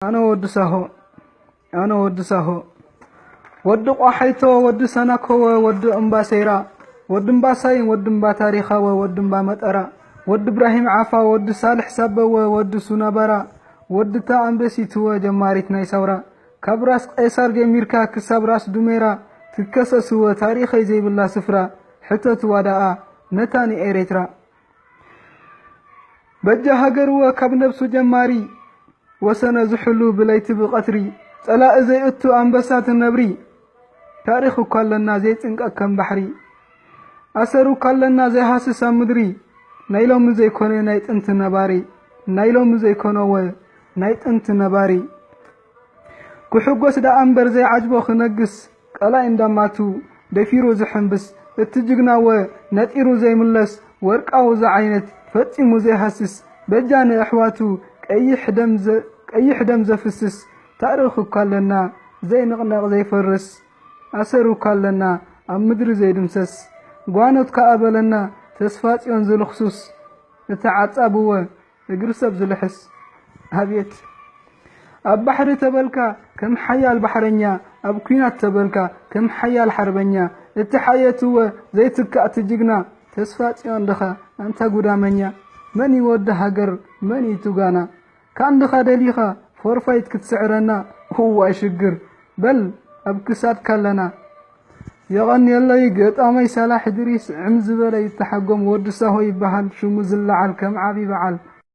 ኣነ ወዲ ሳሆ ኣነ ወዲ ሳሆ ወዲ ቋሓይቶ ወዲ ሰናኮወ ወዲ እምባ ሰይራ ወዲ እምባ ሳይን ወዲ እምባ ታሪኻወ ወዲ እምባ መጠራ ወዲ እብራሂም ዓፋ ወዲ ሳልሕ ሳበወ ወዲ ሱናባራ ወዲ እታ ኣንበሲትወ ጀማሪት ናይ ሳውራ ካብ ራስ ቄሳር ጀሚርካ ክሳብ ራስ ዱሜራ ትከሰስወ ታሪኸይ ዘይብላ ስፍራ ሕተትዋ ደኣ ነታ ንኤሬትራ በጃ ሃገርወ ካብ ነብሱ ጀማሪ ወሰነ ዝሕሉ ብለይቲ ብቐትሪ ጸላኢ ዘይእቱ ኣንበሳ ትነብሪ ታሪኽ እኳ ኣለና ዘይጽንቀቅ ከም ባሕሪ ኣሰር እኳ ኣለና ዘይሃስስ ኣብ ምድሪ ናይ ሎሚ ዘይኮነ ናይ ጥንቲ ነባሪ ናይ ሎሚ ዘይኮነወ ናይ ጥንቲ ነባሪ ክሕጎስ ደኣ እምበር ዘይዓጅቦ ክነግስ ቀላይ እንዳማቱ ደፊሩ ዝሕምብስ እቲ ጅግና ወ ነጢሩ ዘይምለስ ወርቃዊ ዝዓይነት ፈጺሙ ዘይሃስስ በጃ ንኣሕዋቱ ቀይሕ ደም ዘ ቀይሕ ደም ዘፍስስ ታእርኽ እኳ ኣለና ዘይንቕነቕ ዘይፈርስ ኣሰር እኳ ኣለና ኣብ ምድሪ ዘይድምሰስ ጓኖት ከኣ በለና ተስፋጽዮን ዝልኽሱስ እቲ ዓጻብወ እግሪ ሰብ ዝልሕስ ኣብየት ኣብ ባሕሪ ተበልካ ከም ሓያል ባሕረኛ ኣብ ኩናት ተበልካ ከም ሓያል ሓርበኛ እቲ ሓየትወ ዘይትካእቲ ጅግና ተስፋ ጽዮን ድኻ ኣንታ ጉዳመኛ መን እዩ ወዲ ሃገር መን እዩ ቱጋና ካንድኻ ደሊኻ ፎርፋይት ክትስዕረና እዋይ ሽግር በል ኣብ ክሳድካ ኣለና የቐንየለይ ገጣመይ ሳላሕ እድሪስ ዕም ዝበለ ይተሓጎም ወዲ ሳሆ ይበሃል ሽሙ ዝለዓል ከም ዓብይ በዓል።